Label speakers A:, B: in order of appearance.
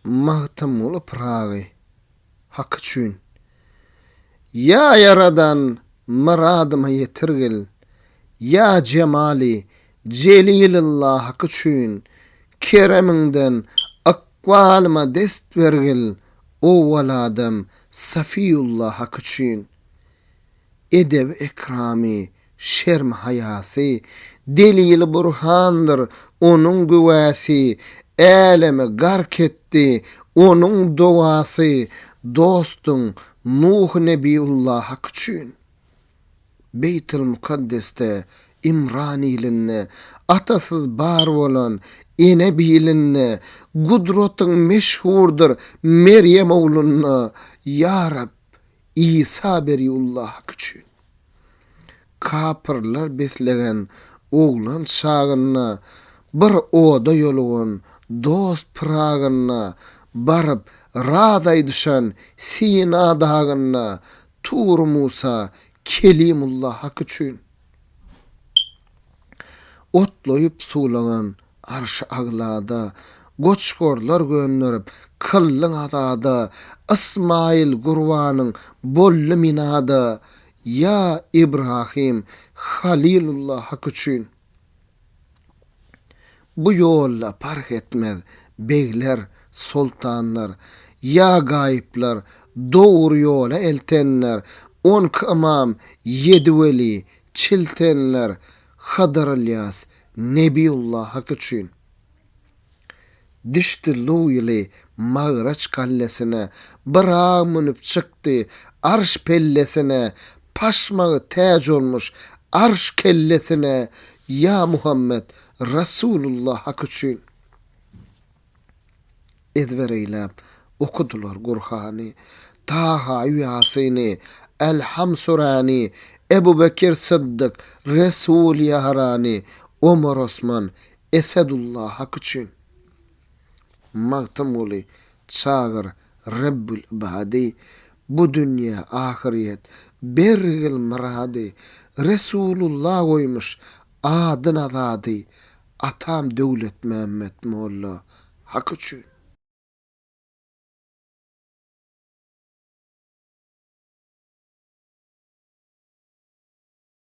A: Magtymguly Pyragy, Hak üçin. Ýa Ýaradan, myradyma ýetirgil, Ýa Jemali Jelilillah hak üçin, Keremiňden ykbalyma dest bergil, Owwal adam Safiýullah hak üçin. Edebi-ekramy Şerm-haýasy, delili burhandyr onuň güwäsi, Älemi gark etdi onuň dowasy, Dostuň, Nuh Nebiýullah hak üçin. Beýtilmukaddesde, Imran ilinde, Atasyz bar bolan, ene bilinde, Gudratyň meşhurdyr Merýem oglunda, Ýa Reb, Isa Beriullahyk üçin. Kapyrlar beslegen oglan çagynda bir oda ýolugan dost Pyragyna baryp raz aýdyşan Sina dagynda Tur Musa Kelimullahyk üçin. Otlaýyp suwlanan arşy aglada, Goçgorlar gönderip kyllyň azada, Ysmaýyl gurbanyň boldy minada, Ýa Ibrahym, Halylullahyk üçin. Bu ýolda parh etmez, begler, soltanlar, ýa gaýyplar, dogry ýola eltenler, on iki ymam, ýedi weli, çiltenler, Hydyr Ylýas, Nebiýullah hak üçin. Dişdi Luýly Magraç gallesine, Byragy münüp çykdy arş pellesine, Paşmagy täç olmuş arş kellesine, Ýa Muhammet, Rasulullah hak üçin ezber eýläp okadylar Gurhany, Taha, Ýasyny, Elham Surany, Ebu Bekir Syddyk, Resul Ýarany, Omar Osman, Esedullah hak üçin, Magtymguly, Çagyr, Rebbül Ibady, Bu dünýe, ahyrýet, bergil myrady, Resulullah goýmuş Adyna zady atam Döwletmämmet molla hak üçin.